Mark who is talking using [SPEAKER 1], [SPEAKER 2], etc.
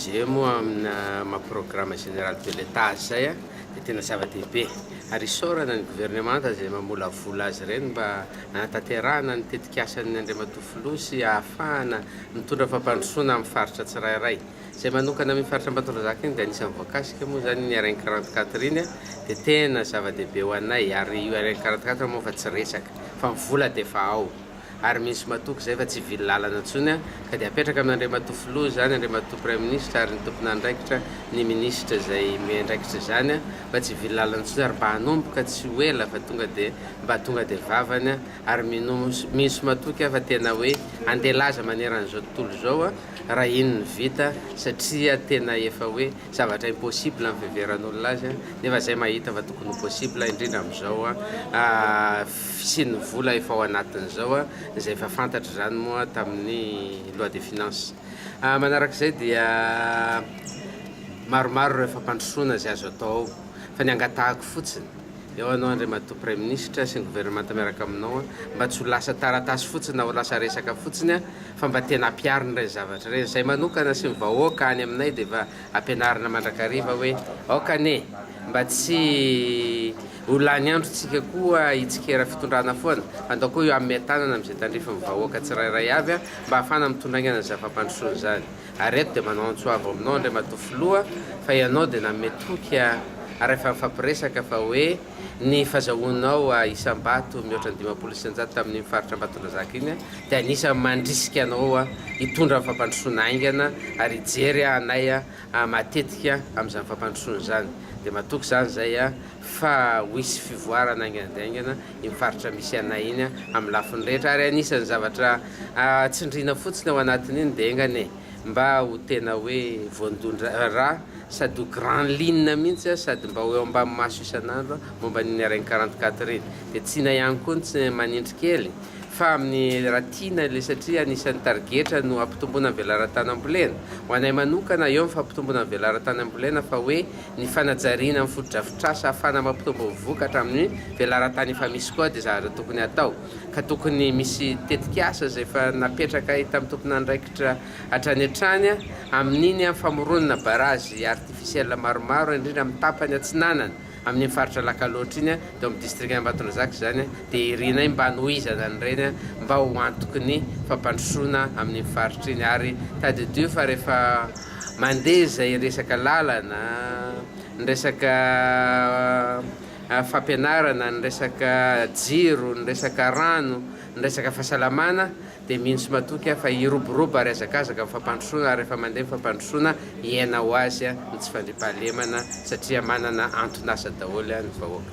[SPEAKER 1] Izay moa amina maha programme général de l'Etat azy izay dia tena zava-dehibe ary isaorana ny governemanta izay mamolavola azy ireny mba hanatanterahana ny tetikasan'ny Andriamatoa Filoha sy hahafahana mitondra fampandrosoana amin'ny faritra tsirairay. Izay manokana amin'iny faritra Ambatondrazaka iny dia anisan'ny voakasika moa izany iny RN quarante quatre iny dia tena zava-dehibe ho anay ary io RN quarante quatre moa efa tsy resaka fa ny vola dia efa ao. ary misy matoky izay fa tsy hivily lalana intsony an, ka dia apetraka amin' Andriamatoa Filoha izany, Andriamatoa Praiminisitra ary ny tompon'andraikitra, ny Minisitra izay miandraikitra izany an, fa tsy hivily lalana intsony ary mba hanomboka tsy ho ela fa tonga dia mba tonga dia vavany an, ary minos misy matoky an fa tena hoe handeha laza maneran'izao tontolo izao an, raha iny no vita satria tena efa hoe. Zavatra impossible ny fiheveran'olona azy an! Nefa izay mahita fa tokony ho possible indrindra amin'izao an! fisian'ny vola efa ao anatin'izao an! izay efa fantatra izany moa tamin'ny loi de finance. Manaraka izay dia maromaro ireo fampandrosoana izay azo atao ao fa ny angatahako fotsiny Eo anao Andriamatoa Praiminisitra sy ny Governemanta miaraka aminao mba tsy ho lasa taratasy fotsiny na ho lasa resaka fotsiny fa mba tena ampiharina ireny zavatra ireny. Izahay manokana sy ny vahoaka any aminay dia efa ampianarina mandrakariva hoe aoka anie mba tsy ho lany androntsika koa hitsikera fitondrana foana fa ndao koa io amiha-tanana amin'izay tandrifin'ny vahoaka tsirairay avy mba hahafana mitondra aingana izany fampandrosoana izany. Ary eto dia manao antso avo aminao Andriamatoa Filoha fa ianao dia nanome toky ary efa nifampiresaka fa hoe ny fazahoanao isam-bato mihoatra ny dimampolo isan-jato tamin'iny faritra Ambatondrazaka iny dia anisan'ny mandrisika anao hitondra ny fampandrosoana haingana ary hijery anay matetika amin'izany fampandrosoana izany. Dia matoky izany izay fa ho hisy fivoarana haingana dia haingana. iny faritra misy anay iny amin'ny lafiny rehetra ary anisan'ny zavatra tsindriana fotsiny ao anatin'iny dia enga anie mba ho tena hoe voandondra-ra sady ho grand ligne mihitsy sady mba ho eo ambany maso isan'andro momba ny Hareng quarante quatre iny dia tsina ihany koa ny tsy manindry kely fa amin'ny raha tiana ilay satria anisan'ny tarigetra no hampitomboana ny velaran-tany ambolena ho anay manokana eo ny fampitomboana ny velaran-tany ambolena fa hoe ny fanajariana ny fotodrafitrasa ahafahana mampitombo ny vokatra amin'ny velaran-tany efa misy koa dia zavatra tokony hatao ka tokony misy tetikasa izay efa napetraka hitan'ny tompon'andraikitra hatrany hatrany amin'iny famoronana barazy artificiel maromaro indrindra amin'ny tapany atsinanana amin'iny faritra Alakalotra iny teo amin'ny district Ambatondrazaka izany dia irinay mba hanohizana an'ireny mba ho antoky ny fampandrosoana amin'iny faritra iny ary tadidio fa rehefa Mandeha izay resaka lalana, ny resaka fampianarana, ny resaka jiro, ny resaka rano, ny resaka fahasalamana dia mino sy matoky aho fa hiroborobo ary hazakazaka ny fampandrosoana ary rehefa mandeha ny fampandrosoana hiaina ho azy ny tsy fandriampahalemana satria manana anton'asa daholo ny vahoaka.